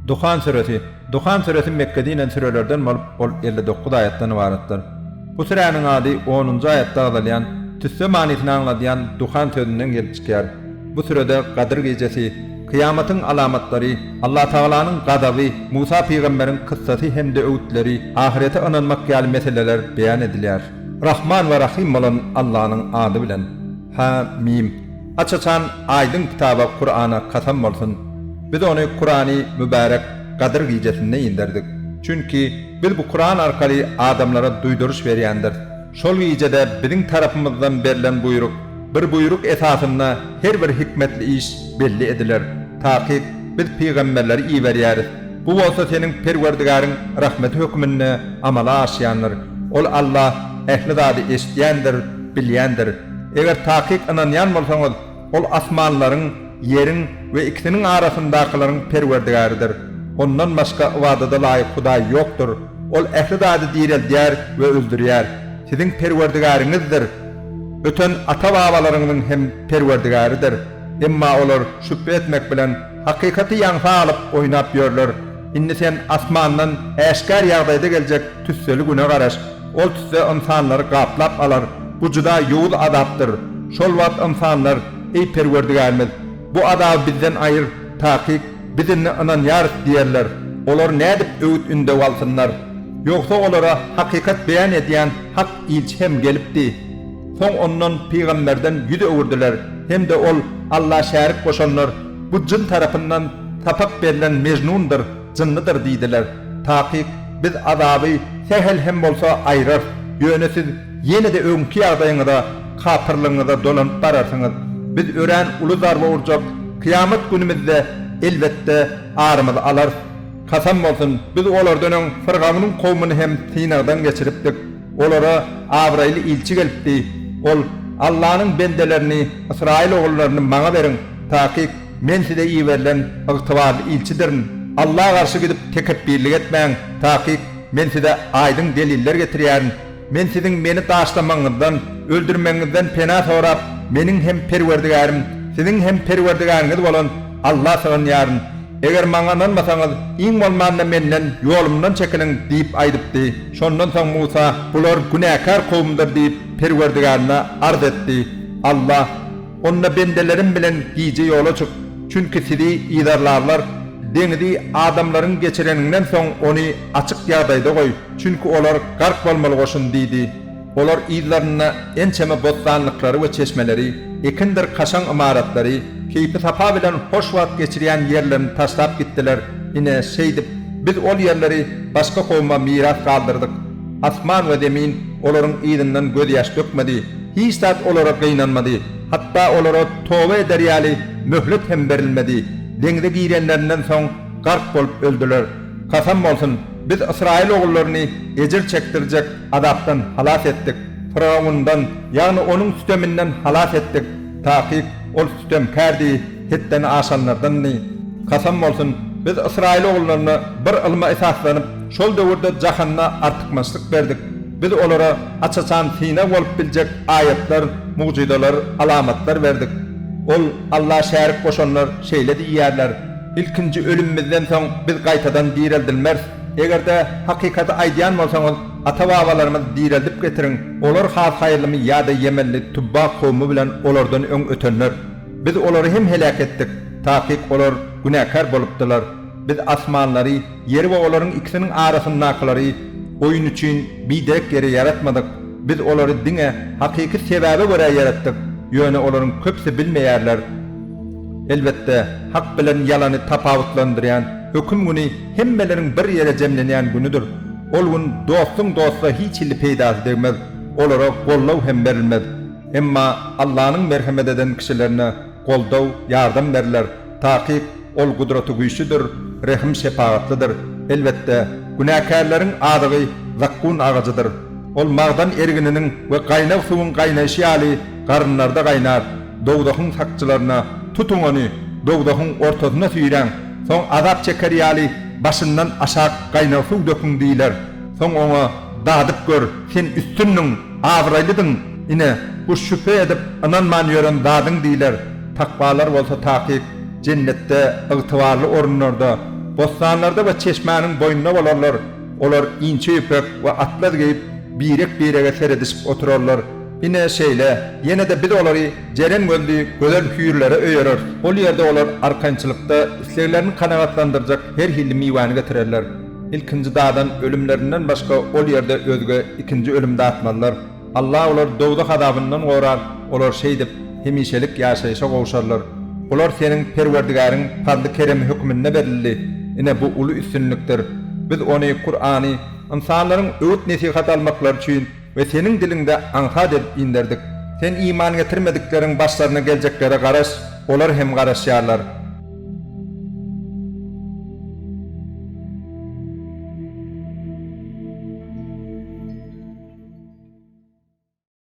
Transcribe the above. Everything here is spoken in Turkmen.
Duhan süresi, Duhan süresi Mekgede inen sürelerden bolup, ol elli dokuz aýatdan ybaratdyr. Bu süräniň ady onunjy aýatda agzalýan, tüsse manysyny aňladýan Duhan sözünden gelip çykýar. Bu sürede Gadyr gijesi, kyýamatyň alamatlary, Allatagalanyň gazaby, Musa pygamberiň kyssasy hem-de öwütleri, ahyrete ynanmak ýaly meseleler beýan edilýär. Rahman we Rahym bolan Allanyň ady bilen. Hä-mim. Aç-açan aýdyň kitaba Kurana kasam bolsun! Biz ony Kurany mübärek Gadyr gijesinde inderdik. Çünki, biz bu Kuran arkaly adamlara duýduryş berýändiris. Şol gijede biziň tarapymyzdan berlen buýruk, bir buýruk esasynda her bir hikmetli iş belli ediler. Takyk, biz pygamberleri iberýäris. Bu bolsa seniň Perwerdigäriň rahmeti hökmünde amala aşýandyr. Ol Alla ähli zady eşidýändir, bilýändir. Eger takyk ynanýan bolsaňyz, Ol asmanlaryň, ýeriň we ikisiniň arasyndakylaryň Perwerdigäridir. Ondan başga ybadada laýyk Hudaý ýokdur. Ol ähli zady direldýär we öldürýär. Siziň Perwerdigäriňizdir. Öten ata-babalaryňyzyň hem Perwerdigäridir. Emma olar şübhe etmek bilen, hakykaty ýaňsa alyp, oýnap ýörler. Indi sen asmandan äşgär ýagdaýda geljek tüsseli güne garaş. Ol tüsse ynsanlary gaplap alar, bu juda ýowuz azapdyr. Şol wagt ynsanlar, Eý, Perwerdigärimiz! Bu azaby bizden aýyr, takyk, biz indi ynanýarys diýerler. Olar nädip öwüt-ündew alsynlar? Ýogsa olara hakykat beýan edýän hak ilçi hem gelipdi. Soň ondan, pygamberden, ýüz öwürdiler hem-de ol, Alla şärik goşanlar, bu jyn tarapyndan sapak berlen mejnundyr, Jynnydyr diýdiler. Takyk, Biz azaby sähel hem bolsa aýrarys, ýöne siz ýene-de öňki ýagdaýyňyza, kapyrlygyňyza dolanyp bararsyňyz. Biz örän uly zarba urjak kyýamat günümizde, elbetde, arymyzy alarys. Kasam bolsun, biz olardan öň Fyrgawnyň kowmuny hem synagdan geçiripdik. Olara abraýly ilçi gelipdi. Ol, Allanyň bendelerini, ysraýyl ogullaryny maňa beriň, takyk, Men size iberilen ygtybarly ilçidirin. Alla garşy gidip tekepbirlik etmäň, takyk Men size aýdyň deliller getirýärin. Men siziň Meni taşlamagyňyzdan, öldürmegiňizden pena sorap, Meniň hem Perwerdigärim, siziň hem Perwerdigäriňiz bolan Alla sygynýaryn. Eger Maňa ynanmasaňyz, iň bolmanda Menden, ýolumdan çekiliň! diýip aýdypdy. Şondan soň Musa, Bular günäkär kowumdyr diýip, Perwerdigärine arz etdi. Alla. Onda bendelerim bilen gije ýola çyk, çünki sizi yzarlarlar, deňizi adamlaryň geçireniňden soň ony açyk ýagdaýda goý, çünki olar gark bolmaly goşun diýdi. Olar yzlarynda ençeme bossanlyklary we çeşmeleri, ekindir kaşaň ymaratlary, keýpisapa bilen hoş wagt geçirýän ýerlerini taşlap gitdiler, ine, şeýdip, biz ol ýerleri başga kowuma miras galdyrdyk. Asman we zemin olaryň yzyndan gözýaş dökmedi, hiç zat olara gynanmady, hatda olara toba eder ýaly möhlet hem berilmedi. Deňze girenlerinden soň gark bolup öldüler. Kasam bolsun, biz ysraýyl ogullaryny ejir çekdirjek azapdan halas etdik. Fyrgawundan, ýagny onuň süteminden halas etdik. Takyk, ol sütemkärdi. Hetden aşanlardandy. Kasam bolsun, biz ysraýyl ogullaryna bir ylma esaslanyp, şol döwürde jahanda artykmaçlyk berdik. Biz olara aç-açan synag bolup biljek aýatlar, mugjyzalar, alamatlar berdik. Ol, Alla şärik goşanlar şeýle diýýärler, Ilkinji ölümimizden soň biz gaýtadan direldilmeris. Eger-de hakykaty aýdýan bolsaňyz, ata-babalarymyzy direldip getiriň, olar has haýyrlymy ýa-da ýemenli Tubba kowumy bilen olardan öň ötenler? Biz olary hem heläk etdik, takyk olar günäkär bolupdylar. Biz asmanlary, ýeri we olaryň ikisiniň arasyndakylary oýun üçin biderek ýere ýaratmadyk, biz olary diňe hakyky sebäbe görä ýaratdyk, ýöne olaryň köpüsi bilmeýärler. Elbetde, Hak bilen ýalany tapawutlandyrýan Höküm güni hemmeleriň bir ýere jemlenýän günüdir. Ol gün dostuň dosta hiç hili peýdasy degmez, olara gollaw hem berilmez. Emma Allanyň merhemet eden kişilerine goldaw, ýardam berler, takyk Ol gudratygüýçlidir, rehim-şepagatlydyr. Elbetde, günäkärleriň azygy zakgun agajydyr. Ol magdan ergininiň we gaýnag suwuň gaýnaýşy ýaly garynlarda gaýnar. Dowzahyň sakçylaryna, Tutuň ony, dowzahyň ortasyna süýräň, soň azap çeker ýaly başyndan aşak gaýnag suw döküň diýler. Soň oňa, Dadyp gör, sen üstündiň! Abraýlydyň, ine, bu şübhe edip ynanman ýören zadyň diýler, takwalar bolsa takyk Jennetde, ygtybarly orunlarda, bossanlarda we çeşmäniň boýunda bolarlar, olar inçe ýüpek we atlaz geýip, birek-birege seredişip oturarlar, ine, şeýle, ýene-de Biz olary jeren gözli gözel hüýrlere öýereris, ol ýerde olar arkançylykda isleglerini kanagatlandyrjak her hilli miwäni getirerler. Ilkinji dadan ölümlerinden başga ol ýerde özge ikinji ölüm datmazlar. Allah olary dowzah azabyndan gorar, olar şeýdip, hemişelik ýaşaýşa gowşarlar. Bular seniň Perwerdigäriň pazly-keremi hökmünde berildi. Ine, bu uly üstünlikdir. Biz ony, Kurany, ynsanlaryň öwüt-nesihat almaklary üçin We seniň diliňde aňsat edip inderdik. Sen iman getirmedikleriň başlaryna geljeklere garaş, olar hem garaşýarlar.